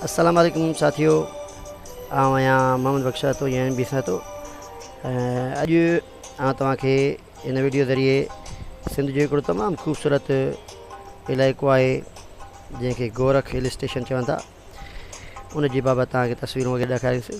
السلام عليڪم ساٿيو آئون آهيان محمد بخش سهتو يا ايم بي سهتو اڄ آئون توهان کي ان ويڊيو ذريعي سنڌ جو هڪڙو تمام خوبصورت علائقو آهي جنهن کي گورک هل اسٽيشن چون ٿا ان جي بابت توهان کي تصويرون وغيره ڏيکاريسي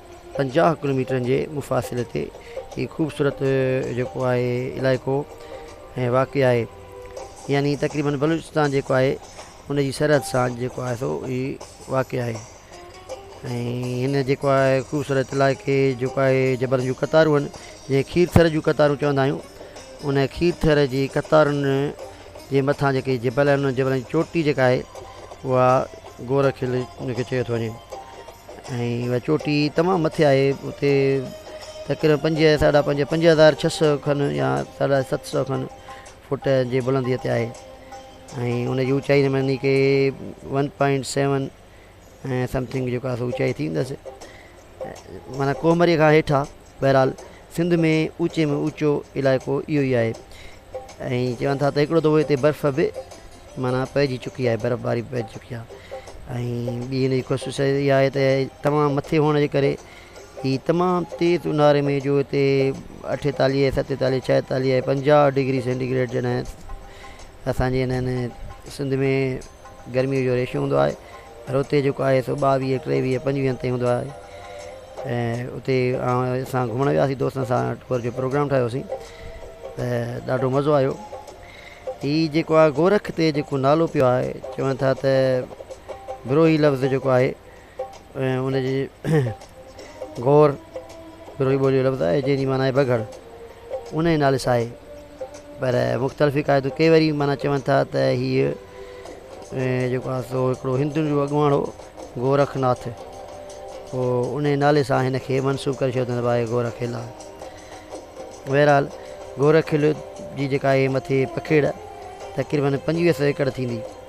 پنجاهه ڪلو ميٽرن جي مفاصلي تي هي خوبصورت جيڪو آهي علائقو ۽ واقع آهي يعني تقريبن بلوچستان جيڪو آهي ان جي سرحد سان جيڪو آهي سو هي واقع آهي ۽ هن جيڪو آهي خوبصورت علائقي جيڪو آهي جبلن جون قطارون آهن جنهن کي کير ٿر جون قطارون چوندا آهيون ان کير ٿر جي قطارن جي مٿان جيڪي جبل آهن انهن جبلن جي چوٽي جيڪا آهي اها گورک هل ان کي چيو ٿو وڃي ۽ اها چوٽي تمام مٿي آهي اتي تقريبن پنج ساڍا پنج پنج هزار ڇهه سو کن يا ساڍا ست سو کن فوٽ جي بلنديء تي آهي ۽ ان جي اوچائي ۾ نڪي ون پوائنٽ سيون ۽ سمٿنگ جيڪو آهي سو اوچائي ٿي ويندس معنيٰ ڪوهمري کان هيٺ آهي بهرحال سنڌ ۾ اوچي ۾ اوچو علائقو اهو ئي آهي ۽ چون ٿا ته هڪڙو دفعو هتي برف به معنيٰ پئجي چڪي آهي برف باري پئجي چڪي آهي ۽ ٻي هن جي ڪوشش اها آهي ته تمام مٿي هئڻ جي ڪري هي تمام تيز اونهاري ۾ جو هتي اٺيتاليهه ستيتاليهه ڇاهيتاليهه ۽ پنجاهه ڊگري سينٽيگريڊ جڏهن اسانجي هنن سنڌ ۾ گرميء جو ريشو هوندو آهي پر اتي جيڪو آهي سو ٻاويهه ٽيويهه پنجويهن تائين هوندو آهي ۽ اتي اسان گهمڻ وياسين دوستن سان ٽوئر جو پروگرام ٺاهيوسين ته ڏاڍو مزو آيو هي جيڪو آهي گورک تي جيڪو نالو پيو آهي چون ٿا ته بروهي لفظ جيڪو آهي ۽ ان جي گور، بروهي ٻوليء جو لفظ آهي، جنهن جي معنيٰ آهي بگهڙ، ان ئي نالي سان آهي. پر مختلف عقائدون ڪي وري معنيٰ چون ٿا ته هيء جيڪو آهي سو هڪڙو هندن جو اڳواڻ هو گورک ناٿ، پوء ان ئي نالي سان هن کي منسوب ڪري ڇڏيو اٿن ته بابا هيء گورک قلعه آهي. بهرحال گورک قلعي جي جيڪا هيء مٿي پکيڙ تقريبن پنجويهه سؤ ايڪڙ ٿيندي.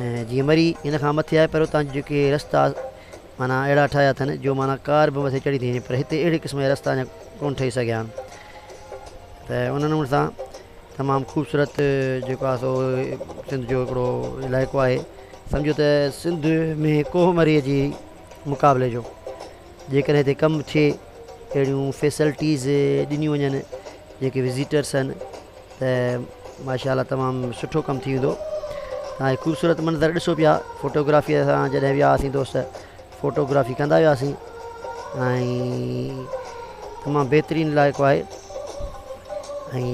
۽ جيئن مري ان کان مٿي آهي پر اتان جا جيڪي رستا معنيٰ اهڙا ٺاهيا اٿن جو معنيٰ ڪار به مٿي چڙهي ٿي وڃي پر هتي اهڙي قسم جا رستا اڃا ڪونه ٺهي سگهيا آهن ته ان نموني سان تمام خوبصورت جيڪو آهي سو سنڌ جو هڪڙو علائقو آهي سمجهو ته سنڌ ۾ ڪوهه مري جي مقابلي جو جيڪڏهن هتي ڪم ٿئي اهڙيون فيسلٽيز ڏنيون وڃن جيڪي وزيٽرس آهن ته ماشاء الله تمام سٺو ڪم ٿي ويندو تان هي خوبصورت منظر ڏسو پيا فوٽوگرافي سان جڏهن ويا هئاسين دوست فوٽوگرافي ڪندا وياسين ۽ تمام بهترين علائقو آهي ۽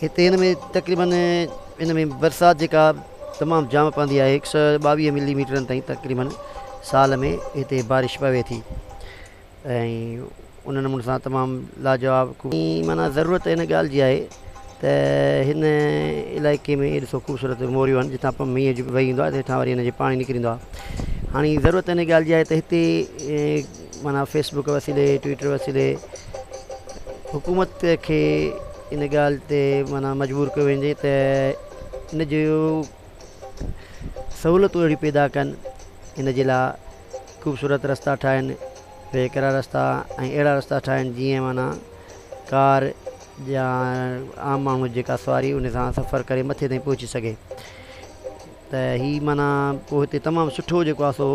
هتي هن ۾ تقريبن ان ۾ برسات جيڪا تمام جام پوندي آهي هڪ سو ٻاويهه ملي ميٽرن تائين تقريبن سال ۾ هتي بارش پوي ٿي ۽ ان نموني سان تمام لاجواب معنيٰ ضرورت ان ڳالهه جي آهي ته هن علائقي ۾ اهي ڏسو خوبصورت موريون آهن جتان پم مينهن جي وهي ايندو آهي هيٺان وري ان جي پاڻي نڪري ايندو آهي هاڻي ضرورت ان ڳالهه جي آهي ته هتي معنيٰ فيسبوڪ وسيلي ٽوئٽر وسيلي حڪومت کي ان ڳالهه تي معنيٰ مجبور ڪيو وڃي ته ان جو سهولتون اهڙيون پيدا ڪن ان جي لاء خوبصورت رستا ٺاهين وي ڪرا رستا ۽ اهڙا رستا ٺاهين جيئن معنيٰ ڪار يا عام ماڻهو جيڪا سواري ان سان سفر ڪري مٿي تائين پهچي سگهي ته هي معنيٰ پوء هتي تمام سٺو جيڪو آسو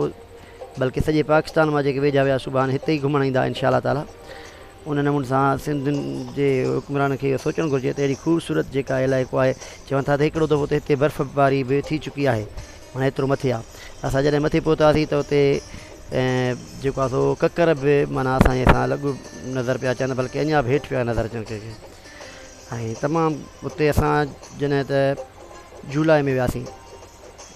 بلڪه سڄي پاڪستان مان جيڪي ويجها ويا صبح هتي ئي گهمڻ ايندا انشاء الله تعالٰي ان نموني سان سنڌ جي حڪمرانن کي اهو سوچڻ گهرجي ته اهڙي خوبصورت جيڪا علائقو آهي چون ٿا ته هڪڙو دفعو ته هتي برف باري به ٿي چڪي آهي معني ايترو مٿي آهي اسان جڏهن مٿي پهتاسين ته اتي جيڪو آهي سو ڪڪر به معني اسان جي سان لڳ نظر پيا اچن بلڪه اڃان به هيٺ پيا نظر اچن ڪنهن کي ۽ تمام اتي اسان جڏهن ته جولاء ۾ وياسين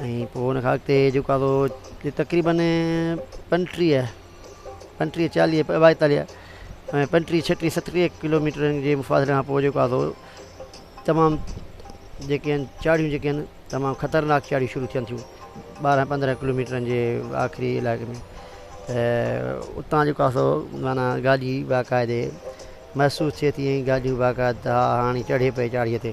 ۽ پوء ان کان اڳتي جيڪو آهي سو تقريبن پنجٽيهه پنجٽيهه چاليهه ٻائيتاليهه ۽ پنجٽيهه ڇهٽيهه ستٽيهه ڪلوميٽرن جي مفاصلي کان پوء جيڪو آهي سو تمام جيڪي آهن چاڙهيون جيڪي آهن تمام خطرناڪ چاڙهيون شروع ٿين ٿيون ٻارهن پندرهن ڪلوميٽرن جي آخري علائقي ۾ ته اتان جيڪو آهي سو معنيٰ گاڏي باقاعدي محسوس ٿئي ٿي ۽ گاڏيون باقاعدا هاڻي چڙهي پئي چاڙهيء تي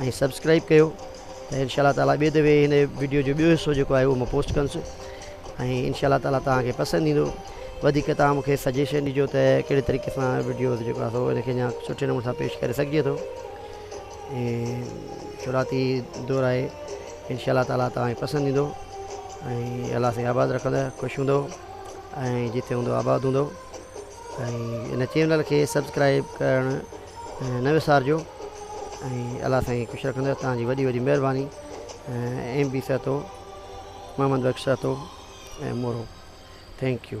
۽ سبسڪرائب ڪيو ته انشاء الله تعالٰي ٻي دفعي هن وڊيو جو ٻيو حصو جيڪو آهي اهو مان پوسٽ ڪنس ۽ انشاء الله تعالٰي توهان کي پسند ايندو وڌيڪ توهان مون کي سجيشن ڏجو ته ڪهڙي طريقي سان وڊيو جيڪو آهي سو ان کي اڃا سٺي نموني سان پيش ڪري سگهجي ٿو ۽ شروعاتي دور آهي انشاء الله تعالٰي توهان کي پسند ايندو ۽ الله سائين آباد رکندو خوش هوندو ۽ جتي هوندو آباد هوندو ۽ ان چينل کي سبسڪرائب ڪرڻ نه وسارجو ۽ الله سائين خوش رکندو توهان جي وڏي وڏي مهرباني M B Sahito Muhammad Bakhsh Sahito ۽ Moro thank U